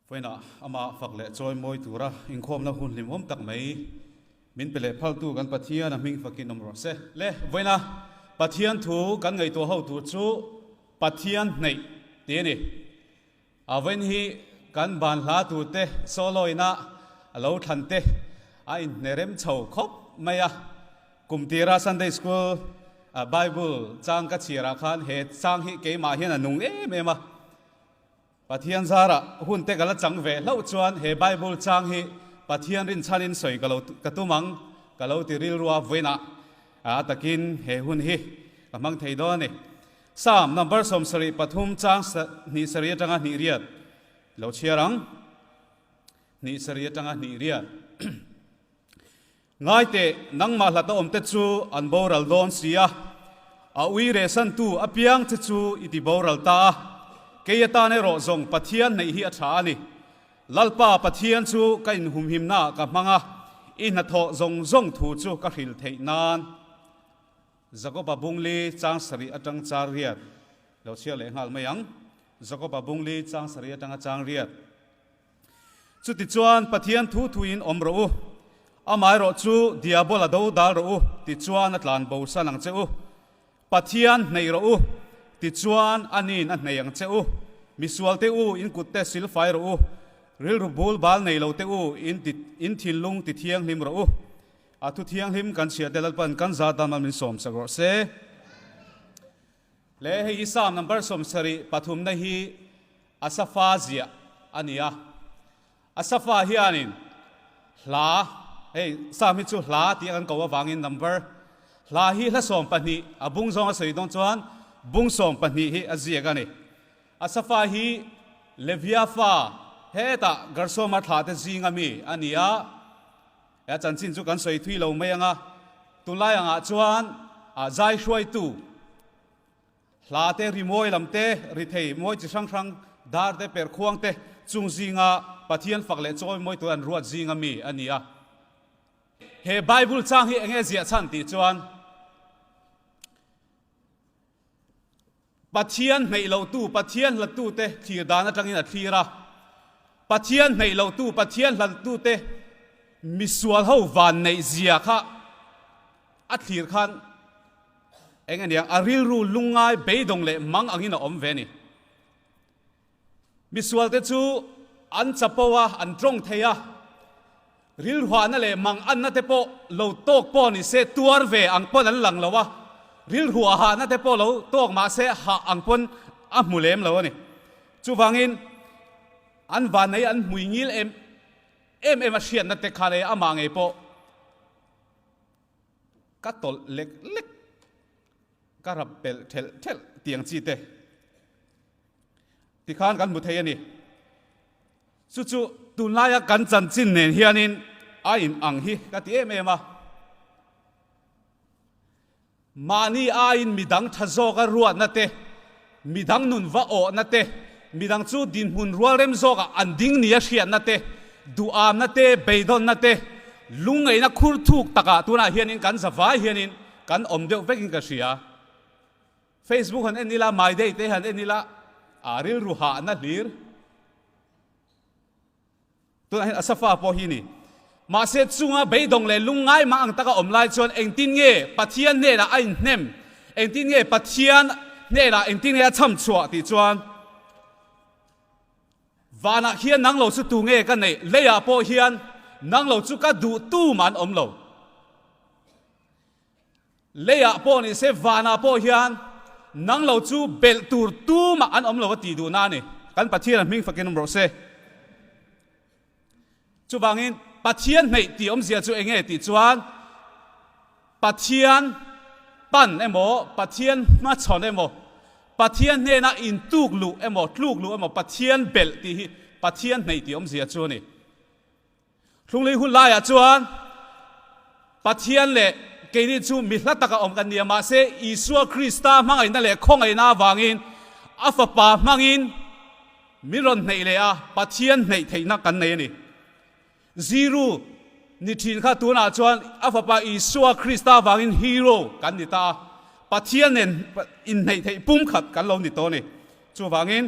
Faina amah fak leh chawi mawi tura inkhawmna hun hlim hawm tak mai min pe leh phaltu kan Pathiana hming fakin awm rawh se. Le vawiina Pathian thu kan ngaihtuah ho tur chu Pathian hneih ti a ni. A vawiin hi kan ban hla tur te sawlawina a lo thlan te a inhne rem chho khawp mai a. Kum tira Sunday School Bible chang ka chhiar ah khan he chang hi keimah hian a nung em em a. Pathian zarah hun te ka la chang ve hlauh chuan he Bible chang hi Pathian rinchhan in sawi ka lo ka tum ang ka lo ti rilrua vawiin a a takin he hun hi ka hmang thei dawn a ni. Psalm number sawm sarih pathum chang hnih sarih atanga hnih riat lo chhiar ang hnih sarih atanga hnih riat. Ngaite nangmah hlat a awm te chu an boral dawn si a, a ui rehsan tu a piang che chu i ti boral ta a, kei atan erawh zawng Pathian hneih hi a tha a ni. Lalpa Pathian chu ka inhumhimna ah ka hmang a, i hnathawh zawng zawng thu chu ka hril theih nan. Jacob-a bung li chang sarih atang char riat lo chhiar leh nghal mai ang. Jacob-a bung li chang sarih atang a chang riat. Chuti chuan Pathian thu thuin awm rawh u, amaherawh chu Diabol a do dal rawh u tichuan a tlan bo san ang che u. Pathian hneih rawh u tichuan a niin a hneih ang che u. Misual te u in kutte sil fai rawh u, rilru bul bal nei lo te u in ti in thinlung ti thianghlim rawh u. A thu thianghlim kan chhiah te lalpan kan za dam lam in sawmsak rawh se. Hle, hei hi Salm number sawm sarih pathumna hi Asafa zia a ni a. Asafa hianin hla, hei Salm hi chu hla tih a kan koh avangin number hla hi hla sawm pahnih a bung zawng a sawi dawn chuan bung sawm pahnih hi a ziak a ni. Asafa hi Levia fa hetah Gershoma thlahte zinga mi a ni a. He chanchin chu kan sawi thui lo mai ang a, tunlai angah chuan zai hruaitu hla te, rimawi lam te, rithei mawi chi hrang hrang, dar te, perh khuang te chung zinga Pathian fak leh chawi mawi tur an ruat zing a mi a ni a. He Bible chang hi enge ziah chhan tih chuan, Pathian hneih lotu, Pathian hlatute thlir dan atangin a thlir a. Pathian hneih lotu, Pathian hlatute misual ho vanneih zia kha a thlir khan eng aniang a rilru lungngai beidawng leh mang angin a awm ve a ni. Misualte chu an chapo a, an tawng thei a, rilruahna leh mang anna te pawh lo tawk pawh ni se tuar ve ang pawn an lang lo a, rilruah hahna te pawh lo tawk mah se hah ang pawn a hmu lem lo a ni. Chuvangin an vannei an hmui ngil em em em a hriatna te kha leh amah ngei pawh ka tawlh lek lek. Ka rap pelh thelh thelh tiang chi te ti khan kan hmu thei a ni. Chu chu tunlaia kan chanchin nen hianin a in ang hi ka ti em em a. Mahni aiin midang tha zawka ruatna te. Midang nun va awhna te, midang chu dinhmun rualrem zawkah an ding nia hriatna te, duhamna te, beidawlna te, lungngeihna khurthuk takah tunah hianin kan za vai hianin kan awm deuh vekin ka hria. Facebook han en ila, My Day te han en ila, aa rilru hahna hlir. Tunah hian Asafa pawh hi a ni. Mahse, chunga beidawng leh lungngai mah ang taka awm lai chuan engtin nge Pathian hnenah a inhnem, engtin nge Pathian hnenah engtin nge a chham chhuah tih chuan Vanah hian nang lo chu tu nge ka neih, leiah pawh hian nang lo chu ka duh tum an awm lo. Leiah pawh ni se vanah pawh hian nang lo chu belh tur tumah an awm lo a tih duhna a ni. Kan Pathiana hming fakin awm rawh se. Chuvangin Pathian hneih tihawmzia chu eng nge tih chuan Pathian pan emaw, Pathian hmachhawn emaw, Pathian hnena intuk luh emaw, tluk luh emaw, Pathian belh tih hi Pathian hneih tihawmzia chu a ni. Hlunglei hun laiah chuan Pathian leh keini chu mi hla taka awm kan ni a, mahse Isua Krista hmangaihna leh khawngaihna avangin a Fapa hmangin min rawn hneih leh a, Pathian hneih theihna kan nei a ni. Ziru ni thin kha tunah chuan a Fapa Isua Krista avangin hero kan ni ta a, Pathian nen inhneih theih pum khat kan lo ni tawh a ni. Chuvangin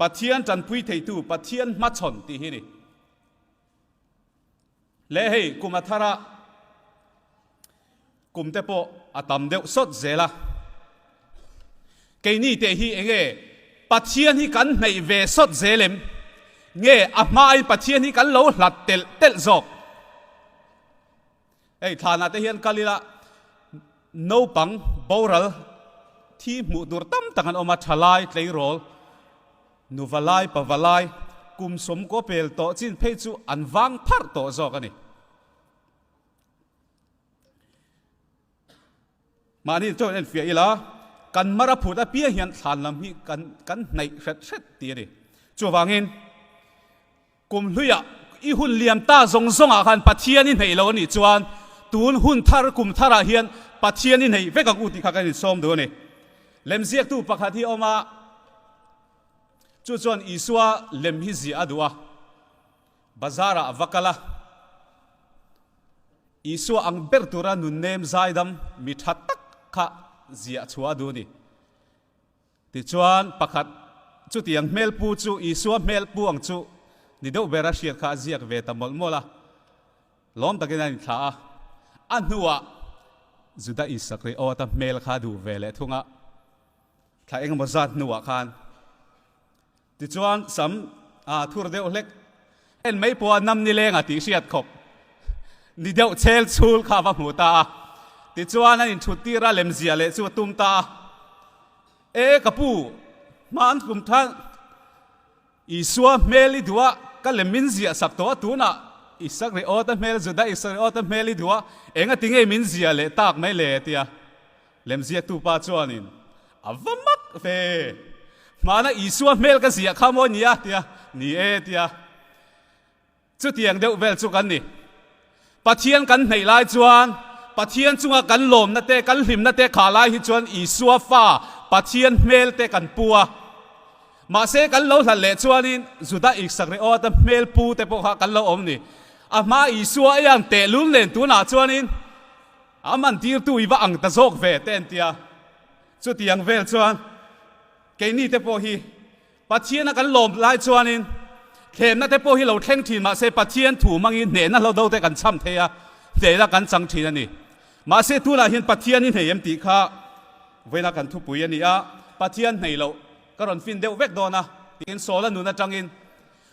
Pathian tanpui theitu, Pathian hmachhawn tih hi a ni. Leh hei kum a thar a, kum te pawh a tam deuh sawt zel a. Keini te hi enge Pathian hi kan hneih ve sawt zel em? Nge a hmain Pathian hi kan lo hlat telh telh zawk? Hei thlan ah te hian kal ila naupang boral thi hmuh tur tam tak an awm a, thalai, tleirawl, nuva lai, pava lai, kum sawm kaw pel tawh chin phei chu an vang pharh tawh zawk a ni. Mahni chuan en fiah ila, kan mar a phut apiang hian thlan lam hi kan kan hnaih hret hret ti a ni. Chuvangin kum hluia i hun liam ta zawng zawng ah khan Pathian i hnaih lo a nih chuan tun hun thar kum thar ah hian Pathian i hnaih vek ang u tih kha kan insawm duh a ni. Lemziak tu pakhat hi a awm a, chu chuan Isua lem hi ziah a duh a. Bazar-ah a va kal a, Isua ang ber tura nunnem zaidam mi tha tak kha ziah chhuah a duh a ni. Tichuan pakhat chutiang hmel pu chu Isua hmel pu ang chu ni deuh bera hriat kha a ziak ve ta mawlh mawlh a, lawm takin an inthlah a. A hnuah Juda Iskariota hmel kha duh ve leh thung a, thla engemaw zat hnuah khan Tichuan sam ah a thur deuh hlek. En mai pawha nam ni leng a tih hriat khawp. Ni deuh chel chhul kha a va hmu ta a. Tichuan an inthut tir a lemzia leh chu a tum ta a. E ka pu, hma an tlum than. Isua hmel i duh a, ka lem min ziah sak tawh a tunah Isakriota hmel, Judaisa riota hmel i duh a, engatinge min zia leh tak mai le? a ti a. Lemziaktu pa chuanin, A va mak ve! Hmana Isua hmel ka ziah kha maw nia? tia ni e tia. Chutiang deuh vel chu kan ni. Pathian kan hneih lai chuan Pathian chunga kan lawmna te, kan hlimna te kha lai hi chuan Isua fa Pathian hmel te kan pu a. Mahse kan lo hlan leh chuanin Juda Iskariota hmel pu te pawh kha kan lo awm ni. Ahma Isua a ian tehlul nen tunah chuanin, Am an tirtu i va ang ta zawk ve te an ti a. Chutiang vel chuan keini te pawh hi Pathiana kan lawm lai chuanin thlenna te pawh hi lo thleng thin mah se Pathian thu hmangin hnehna hlo do te kan cham thei a, hneina kan chang thin a ni. Mahse tunah hian Pathian i hnei em tih kha vawiina kan thupui a ni a, Pathian hnei loh ka rawn fin deuh vek dawn a, tiin Saula nun atangin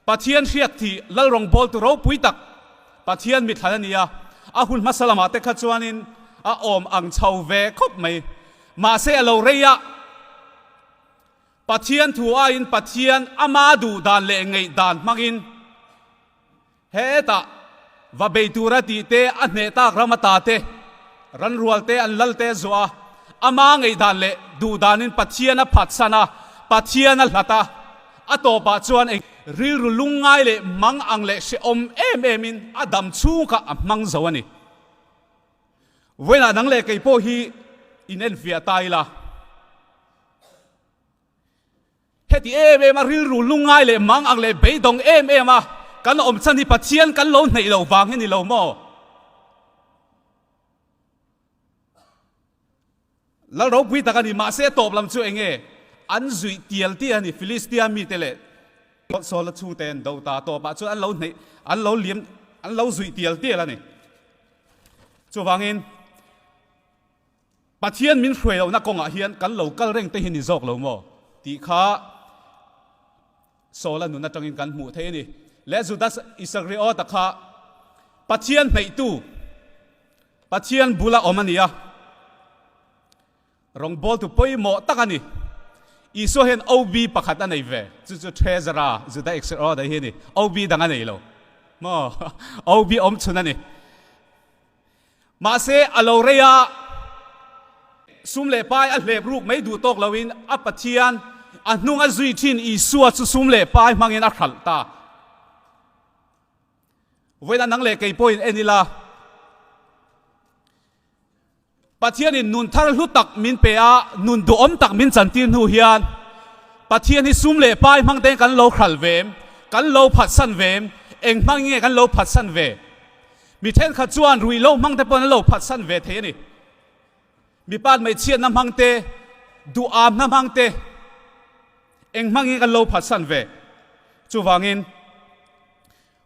Pathian hriat thih Lalrawng bawltu ropui tak Pathian mithlai a ni a, a hun hmasa lamah te kha chuanin a awm ang chho ve khawp mai. Mahse a lo rei a, Pathian thu aiin Pathian ama duh dan leh ngeih dan hmangin hetah, Va bei tura tih te, a hneh tak ram ata te, ranrual te an lal te zuah a, ama ngaihdan leh duhdan in Pathian a phatsan a, Pathian a hlat a, a tawp ah chuan eng rilru lungngai leh mang ang leh hrehawm em em in a dam chhung kha a hmang zo a ni. Vawiinah nang leh kei pawh hi in enfiah ta ila. Heti em em a rilru hnungngai leh mang ang leh beidawng em em a kan awmchhan hi Pathian kan lo hneih lo vang hi ni lo maw? Lal ropui tak a ni, mahse tawp lam chu enge an zuih tial tial a ni, Filistia mite leh Saula chhungte an do ta, tawpah chuan an lo hneih, an lo liam, an lo zuih tial tial a ni. Chuvangin. Pathian min hruai loh na kawng ah hian kan lo kal reng te hi ni zawk lo maw tih kha Saula nun atang in kan hmuh theih a ni. Le Judas Iscariot a kha Pathian hneih tu, Pathian bul a awm a ni a, rawngbâwl tu pawimawh tak a ni. Isua hian OB pakhat a nei ve, chu chu Treasure a, Judas Iscariot a hi a ni. OB dang a nei lo maw? OB awm chhun a ni. Mahse, a lo rei a, sum leh pai a hlep ruk mai duh tawk loin a Pathian a hnung a zui thin Isua chu sum leh pai hmangin a hralh ta. Vawiin a nang leh kei pawhin en ila. Pathianin nun thar hlu tak min pe a, nun duhawm tak min chan tir hnu hian Pathian hi sum leh pai hmang ten kan lo hral ve em? Kan lo phatsan ve em? Eng hmangin nge kan lo phatsan ve? Mi thenkhat chuan ruih loh hmangte pawhin an lo phatsan ve thei a ni. Mi pat hmeichhiatna hmangte, duhawmna hmangte eng hmangin kan lo phatsan ve? Chuvangin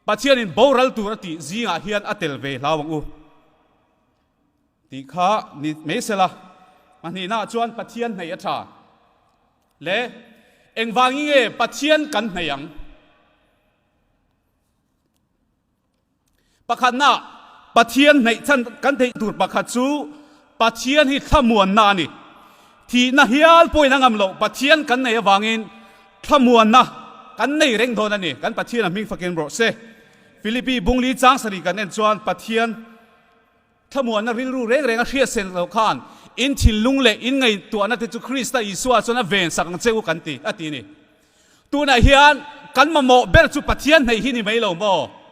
Pathianin boral tur a tih zingah hian a tel ve hlau ang u. Tih kha ni mai se la, hmahnihnaah chuan Pathian hnaih a tha le engvangin nge Pathian kan hnaih ang? Pakhatnah Pathian hnaih chan kan theih tur pakhat chu Pathian hi thlamuanna a ni. Thihna hial pawhin a ngam loh Pathian kan nei avangin thlamuanna kan nei reng dawn a ni. Kan Pathian a hming fakin rawh se. Philippi bungli chang sarih kan en chuan Pathian Thlamuanna rilru reng renga hriatsen lo khan in thinlung leh in ngaihtuahna te chu Krista Isua chuan a ven sak ang che u kan ti a ti ni. Tunah hian kan mamawh ber chu Pathian hneih hi ni mai lo maw?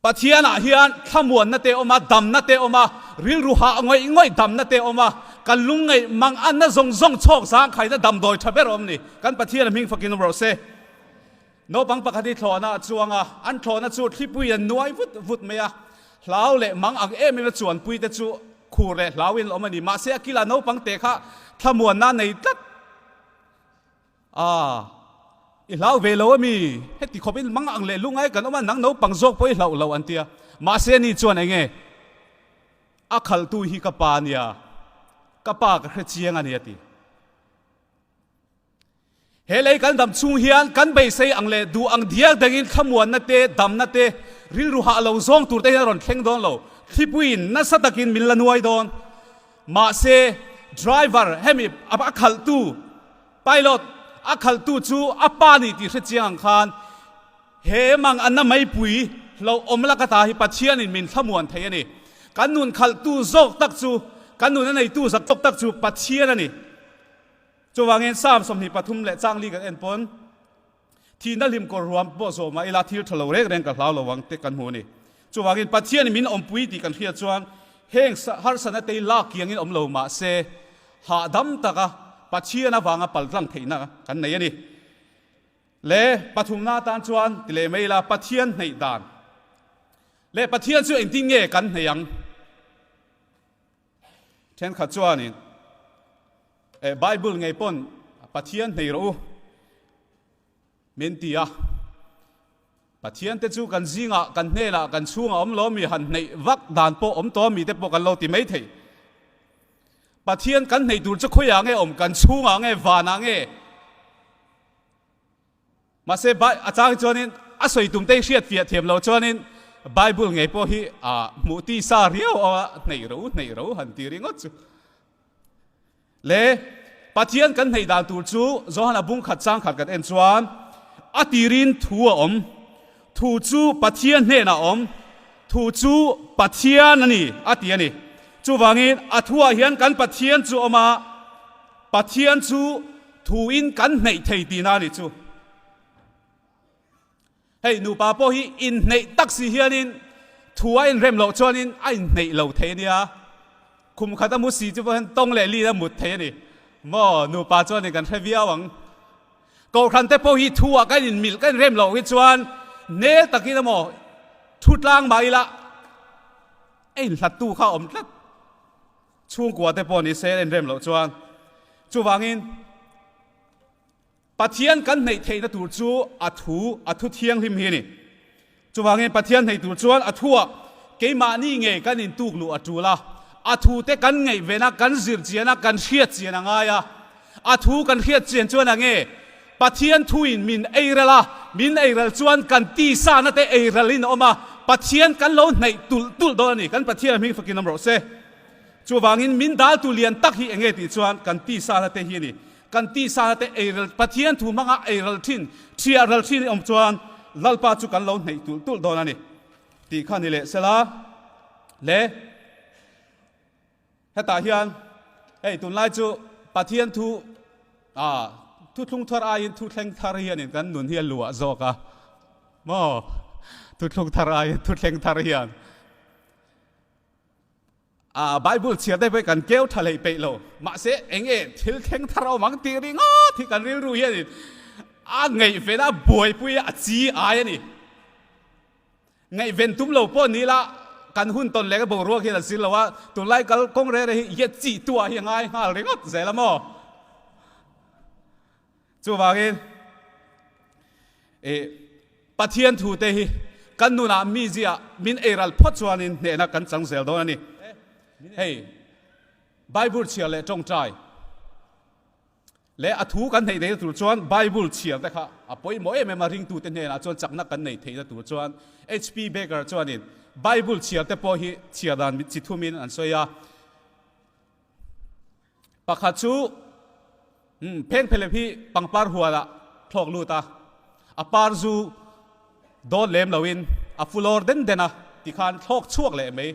Pathianah hian thlamuanna te awm a, damna te awm a, rilru hah ngawih ngawih damna te awm a, kan lungngeih mang anna zawng zawng chhawk zangkhaina damdawi tha ber awm ni. Kan Pathiana hming fakin rum rawh se. Naupang pakhat hi thlawhna a chuang a, an thlawhna chu thlipui an nuai vut vut mai a. Hlau leh mang ang em ema chuan puite chu khur leh hlauin a awm a ni. Mahse a kila naupang te kha thlamuanna nei tlat a, I hlau ve lo a mi? Heti khawpin mang ang leh lungai kan awm a, nang naupang zawk pawh i hlauh lo an ti a. Mahse ani chuan enge a khaltu hi ka pa a nia, ka pa ka hrechiang a ni a ti. He lei kan dam chhung hian kan beisei ang leh duh ang dial dangin thlamuanna te, damna te, rilru hah lo zawng tur te hian a rawn thleng dawn lo. Thlipuiin nasa takin min la nuai dawn. Mahse, driver, hemi a khalhtu, pilot, a khalhtu chu a pa ni tih hre chiang ang khan he mang anna meipui hlauh awm laka ta hi Pathianin min thlamuan thei a ni. Kan nun khalhtu zawk tak chu, kan nun a neitu zat zawk tak chu Pathian a ni. Chuvangin Psalm sawmhnih pathum leh changli kan en pawn, thihna hlim kawrruam pawh zawhmah ila thil tha lo reng reng ka hlau lo ang tih kan hmu a ni. Chuvangin Pathian min awmpui tih kan hriat chuan heng harsatna tei lak kiangin awm lo mah se, hahdam taka Pathian avanga pal tlang theihna kan nei a ni. Le pathumna atan chuan ti leh mai ila Pathian hneih dan leh Pathian chu engtin nge kan hneih ang? Thenkhat chuanin, Eh, Bible ngei pawn Pathian hneih rawh u, min ti a. Pathiante chu kan zingah, kan hnenah, kan chhungah awm lo ami han hneih vak dan pawh awm tawh ami te pawh kan lo ti mai thei. Pathian kan hneih tur chu khawiah nge a awm? Kan chhungah nge? Vanah nge? Mahse, Bai a changin chuanin a sawi tumte hi hriatfiah thiam lo chuanin Bible ngei pawh hi aa hmuh tisa riau a hneih ro hneih ro han ti ringawt chu. Le Pathian kan hneih dan tur chu Johana bungkhat changkhat kan en chuan a tirin thu a awm. Thu chu Pathian hnenah awm, thu chu Pathian a ni, a ti a ni. Chuvangin a thuah hian kan Pathian chu awm a, Pathian chu thuin kan hneih thei tihna a ni chu. Hei nupa pawh hi inhneih tak si hianin thu a inrem loh chuanin a inhneih lo thei a nia. Khum khat a mu si chu pawh hian tawng leh lin a mut thei a ni. Maw nupa chuan kan hre viau ang. Kohhran te pawh hi thu ah kan in milh kan in rem loh hi chuan nel tak in emaw thu tlang mah ila a in hlat tu kha awm tlat. Chhungkua te pawh ni se a in rem loh chuan chuvang in Pathian kan hneih theih na tur chu a thu a thu thianghlim hi a ni. Chuvangin Pathian hneih tur chuan a thuah keimahni nge kan intuk luh a tul a, a thu te kan ngaihven a, kan zir chian a, kan hriatchian a ngai a. A thu kan hriatchian chuan a nge? Pathian thuin min ei ral a, min ei ral chuan kan tisana te ei ralin a awm a, Pathian kan lo hneih tulh tulh dawn a ni. Kan Pathian a hming fakin awm rawh se. Chuvangin min daltu lian tak hi enge tih chuan kan tisana te hi a ni. Kan tih sâra te eirel Pathian thu hmanga eiral ṭhin, ṭhiah ral ṭhin i awm chuan Lalpa chu kan lo hneih tulh tulh dawn a ni tih kha ni leh se la. Le hetah hian hei tunlai chu Pathian thu ah thuthlung thar aiin thuthleng thar hianin kan nun hi a luah zawk a maw? Thuthlung thar aiin thuthleng thar hian. A Bible chhiar daih pawh hi kan keu tha leh peih lo. Mahse, eng nge thil thleng thar awm ang tih ri ngawt hi kan rilru hianin a ngaihvela buaipui a chi ai a ni. Ngaihven tum lo pawh ni ila kan hun tawn leh ka boruak hian an sir lo a, tunlai kal kawng rere hi yet chihtuah hi a ngai nghal ringawt zel a maw? Chuvangin, ih, Pathian thute hi kan nunah mi zia min ei ral phawt chuanin hnehna kan chang zel dawn a ni. Hei Bible chhiar leh tawngtai leh a thu kan hneih theihna tur chuan Bible chhiar te kha a pawimawh em em a, ringtute hnenah chuan chakna kan nei theihna tur chuan HP. Baker chuanin Bible chhiar te pawh hi chhiar dan chi thumin an sawi a. Pakhat chu pheng phelep hi pangpar hualah thlawk lut a, a par zu dawn lem loin a fulawr den den a ti khan thlawk chhuak leh mai.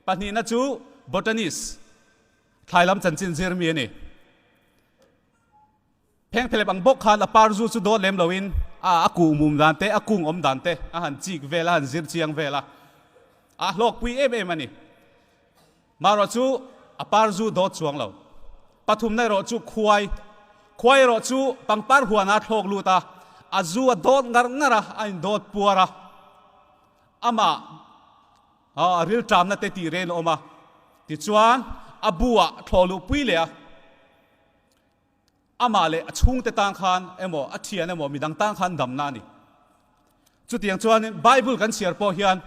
Pahnihna chu botanist, thlailam chanchin zir mi a ni. Phengthlep ang bawk khan a par zu chu dawn lem loin a a kuh mum dan te a kung awm dan te a han chik vel a han zir chiang vel a, a hlawkpui em em a ni. Marawh chu a par zu dawt chuang lo. Pathumna erawh chu khuai, khuai erawh chu pangpar huana a thlawk lut a, a zu a dawt ngar ngar a, a indawt puar a. Amah aw a rilṭamna te tih ren a awm a, tichuan a bu ah thlawluh pui leh a. Amah leh a chhungte tang khan emaw, a thian emaw midang tang khan damna a ni. Chutiang chuanin Bible kan chhiar pawh hian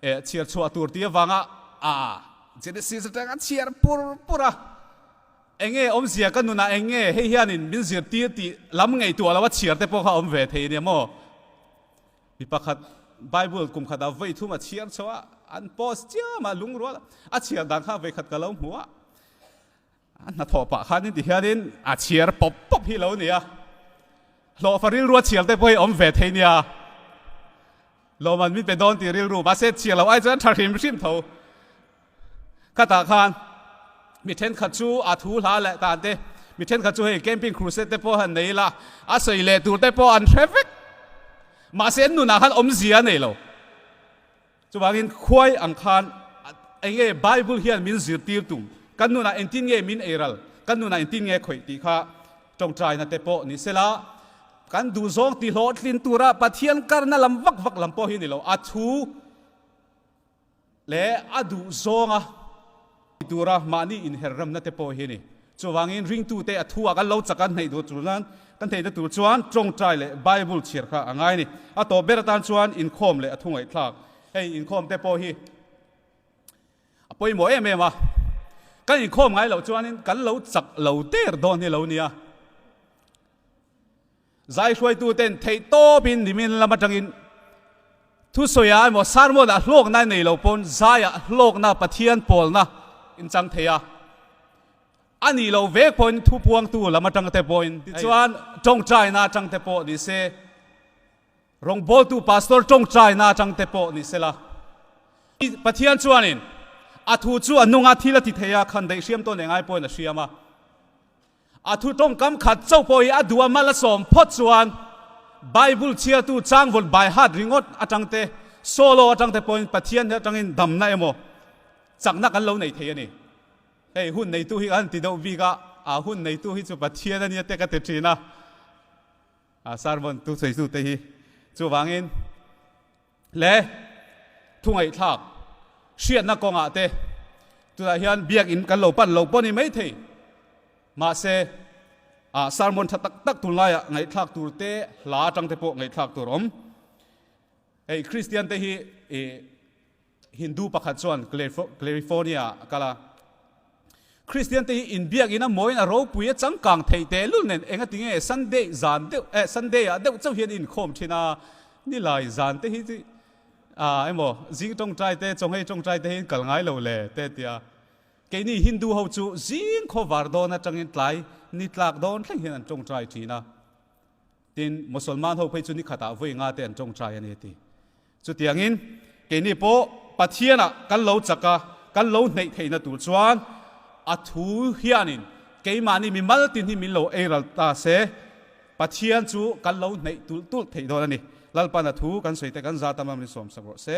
e chhiar chhuah tur ti avanga a Genesis atang a chhiar pur pur a. Enge awmzia ka nunah eng nge hei hianin min zirtir tih lam ngaihtuah lo a chhiar te pawh kha a awm ve thei a nia maw? Mi pakhat Bible kum khat a vawi thum a chhiar chho a, an post chiah mah lungrual a chhiar dan kha vei khat ka lo hmu a. A hnathawh pah khan in ti hian in a chhiar pawp pawp hi lo nia. Hlawhfa rilrua chhiar te pawh hi awm ve thei nia. Lawman min pe dawn tih rilru mahse chhiar lo ai chuan tha hrim hrim tho. Khatah khan mi thenkhat chu a thu hla leh dan te mi thenkhat chu hei camping crusade te pawh han nei ila a sawi leh tur te pawh an hre vek. Mahse nunah khan awmzia a nei lo. Chuvangin khuai ang khan eng nge Bible hian min zirtir tum, kan nunah engtin nge min ei ral, kan nunah engtin nge khawih tih kha tawngtaina te pawh ni sela, kan duhzawng tihlawhtlin tura Pathian karna lam vak vak lam pawh hi ni lo, a thu leh a duhzawnga. Ti tura mahni inherhramna te pawh hi a ni. Chuvangin ringtute a thu a kan lo chak a hnaih duh tur nan kan theihna tur chuan tawngtai leh Bible chhiar kha a ngai a ni. A tawp ber atan chuan inkhawm leh a thungaihthlak hei inkhawm te pawh hi a pawimawh em em a. Kan inkhawm ngai loh chuanin kan lo chak lo der dawn hi a lo ni a. Zaihruaituten theihtawpin nimin lam atangin thusawiah emaw sarmawnah hlawkna a nei lo pawn zaiah hlawkna Pathian pawlna in chang thei a, a nih loh vek pawhin thu puangtu lam atangte pawhin tichuan tawngtaina atangte pawh ni se, rawngbawltu pastor tawngtaina atangte pawh ni sela, Pathian chuanin a thu chu a nunga thil a ti theia khan daihriam tawn engai pawhin a hriam a. A thu tawngkam khat chauh pawh hi a duhah mal a sawm phawt chuan Bible chhiartu changvawn baihat ringawt atangte, solo atangte pawhin Pathian atangin damna emaw chakna kan lo nei thei a ni. Hei, hun neitu hi kan ti deuh bik a, a hun neitu hi chu Pathian a nia te ka ti thin a, a sermon tu sawi zute hi. Chuvangin. le thungaihthlak hriatna kawngah te tunah hian biakinn kan lo pan lo pawh a ni maithei. Mahse, ah sermon tha tak tak tun laiah ngaihthlak tur te hla atang te pawh ngaihthlak tur awm. Hei Kristian te hi Hindu pakhat chuan California a kal a, Kristiante hi inbiak in a mawiin a ropui a changkang theih teh lul nen eng a ti nge? Sunday zan deuh eh Sunday ah deuh chauh hian i inkhawm thin a, ni lai zan te hi chi ah emaw zing tawngtai te chawngei tawngtai te hi in kal ngai lo le te ti a, keini Hindu ho chu zing khawvar dawn atangin tlai ni tlak dawn thleng hian an tawngtai thin a, Tin, Musalman ho phei chu nikhat ah vawi nga te an tawng chai a ni a ti. Chutiang in, keini pawh Pathian ah kan lo chak a, kan lo hneih theih na tur chuan a thu hian in keimahni mi mal tin hi min lo ei ral ta se, Pathian chu kan lo hneih tulh tulh theih dawn a ni. Lalpan a thu kan sawi te kan za tam lam in sawm sak rawh se.